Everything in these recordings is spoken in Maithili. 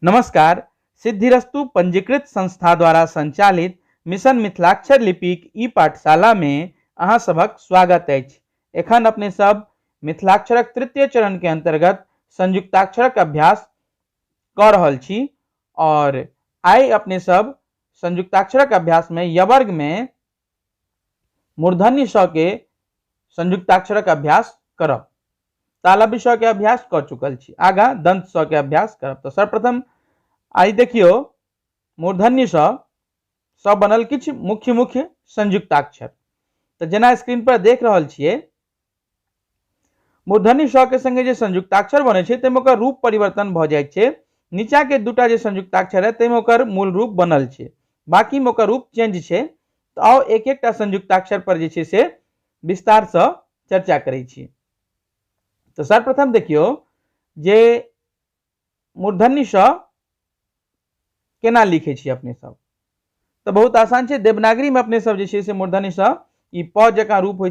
नमस्कार सिद्धिरस्तु पंजीकृत संस्था द्वारा संचालित मिशन मिथिलाक्षर लिपिक ई पाठशाला मे अहाँ सभक स्वागत अछि एखन अपने सब मिथिलाक्षरक तृतीय चरण के अंतर्गत संयुक्ताक्षरक अभ्यास कऽ रहल छी और आइ अपने सब संयुक्ताक्षरक अभ्यास मे यवर्ग मे मूर्धन्य स के संयुक्ताक्षरक अभ्यास करब तालव्य स के अभ्यास क चुकल छी आगा दंत स के अभ्यास करब तो सर्वप्रथम आई देखियो मूर्धन्य स स बनल किछ मुख्य मुख्य संयुक्ताक्षर तो जेना स्क्रीन पर देख रहल छिए मूर्धन्य स के संगे जे संयुक्ताक्षर बने छै ताहिमे ओकर रूप परिवर्तन भऽ जाइ छै नीचा के दूटा जे संयुक्ताक्षर है ताहिमे ओकर मूल रूप बनल छै बाकी में ओकर रूप चेंज छै तऽ आउ एक एकटा संयुक्ताक्षर पर जे छै से विस्तार से चर्चा करै छी तऽ सर्वप्रथम देखियौ जे मूर्धन्य श केना लिखे छी अपने सब तो बहुत आसान है देवनागरी में अपने सब जे मूर्धन्य श ई प जकाँ रूप हो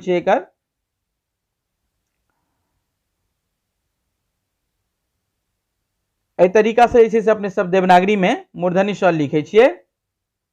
तरीका से अपने सब देवनागरी में मूर्धन्य श लिखे छे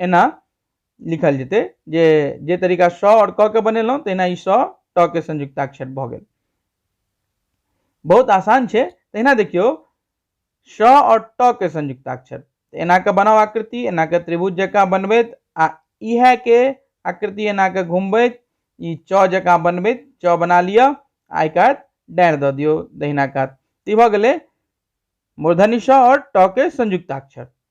एना लिखल जेतै जे जे तरीका स आओर क के बनेलहुँ तहिना ई स ट के संयुक्ताक्षर भऽ गेल बहुत आसान छै तहिना देखियौ स आओर ट के संयुक्ताक्षर एना के बनाउ आकृति एना के त्रिभुज जकाँ बनबैत आ इहे के आकृति एना के घुमबैत ई च जकाँ बनबैत च बना लिअ आइ कात डाँड़ि दऽ दियौ दहिना कात ई भऽ गेलै मूर्धनि स आओर ट के संयुक्ताक्षर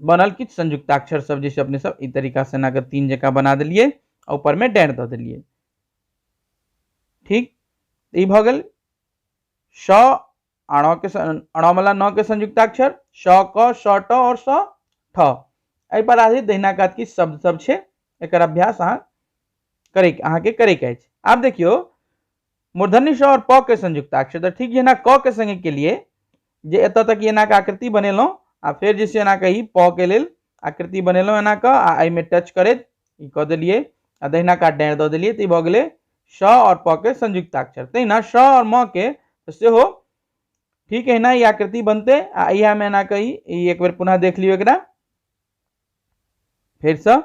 बनल किछु संयुक्ताक्षर सब जे छै अपने सब ई तरीका से एना के तीन जका बना देलिए आ ऊपर में डैर द देलिए ठीक तो ई भ गेल श अण के अण वाला न के संयुक्ताक्षर श क श ट और स ठ एहि पर आधारित दहिना कात की शब्द सब छै एकर अभ्यास अहाँ करे अहाँ के करे के अछि आब देखियो मूर्धन्य श और प के संयुक्ताक्षर तो ठीक जेना क के संगे के लिए जे एतऽ तक एना के आकृति बनेलहुँ आ फेर जे छै एना के ई प के लेल आकृति बनेलहुँ एना के आ एहिमे टच करैत ई कऽ देलियै आ दहिना कात डाँड़ि दऽ देलियै तऽ ई भऽ गेलै श आओर प के संयुक्ताक्षर तहिना श आओर म के सेहो ठीक एहिना ई आकृति बनतै आ इएहमे एना के ई एक बेर पुनः देख लियौ एकरा फेरसँ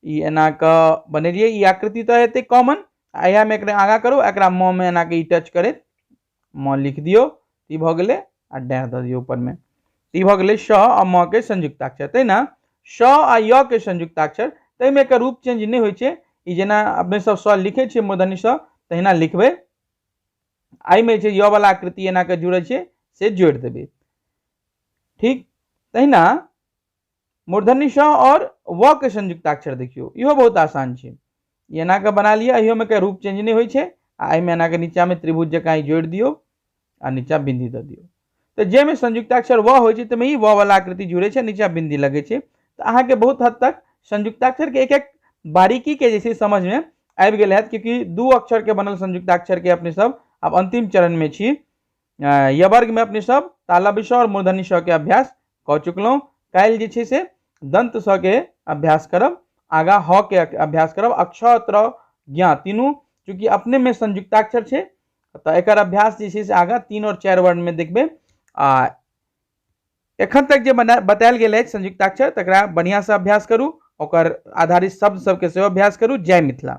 ई एना के बनेलियै ई आकृति तऽ हेतै कॉमन आ इएहमे एकरा आगाँ करू एकरा म मे एना के ई टच करैत म लिख दियौ ई भऽ गेलै आ डैह दऽ दियौ ऊपरमे ई भऽ गेलै श आ म के संयुक्ताक्षर तै ने श आ य के संयुक्ताक्षर ताहिमे एकर रूप चेंज नहि होइ छै ई जेना अपने सब स लिखै छियै मूर्धनि स तहिना लिखबै एहिमे जे य वाला आकृति एना के जुड़ै छै से जोड़ि देबै ठीक तहिना मूर्धन्य श और व के संयुक्ताक्षर देखियो इहो बहुत आसान छै ई एना के बना लिअ एहियोमे के रूप चेंज नहि होइ छै आ एहिमे एना के नीचा में त्रिभुज जकाँ ई जोड़ि दियौ आ नीचा बिंदी दऽ दियौ तऽ जाहिमे संयुक्ताक्षर व होइ छै ताहिमे ई व वाला आकृति जुड़े छै नीचा बिंदी लगे छै तऽ अहाँके बहुत हद तक संयुक्ताक्षर के एक एक बारीकी के जे छै समझ में आबि गेल हैत क्योंकि दू अक्षर के बनल संयुक्ताक्षर के अपने सब आब अंतिम चरण में छी यह वर्ग में अपने सब ताला विषय और मूर्धन्य स के अभ्यास कऽ चुकलहुँ काल्हि जे छै से दन्त स के अभ्यास करब आगाँ ह के अभ्यास करब अक्षर त्र ज्ञा तीनू चूँकि अपने में संयुक्ताक्षर छै तऽ एकर अभ्यास जे छै से आगाँ तीन और चारि वर्ण में देखबै आ एखन तक जे बना बतायल गेल अछि संयुक्ताक्षर तकरा बढ़िआँसँ अभ्यास करू ओकर आधारित शब्द सबके सेहो अभ्यास करू जय मिथिला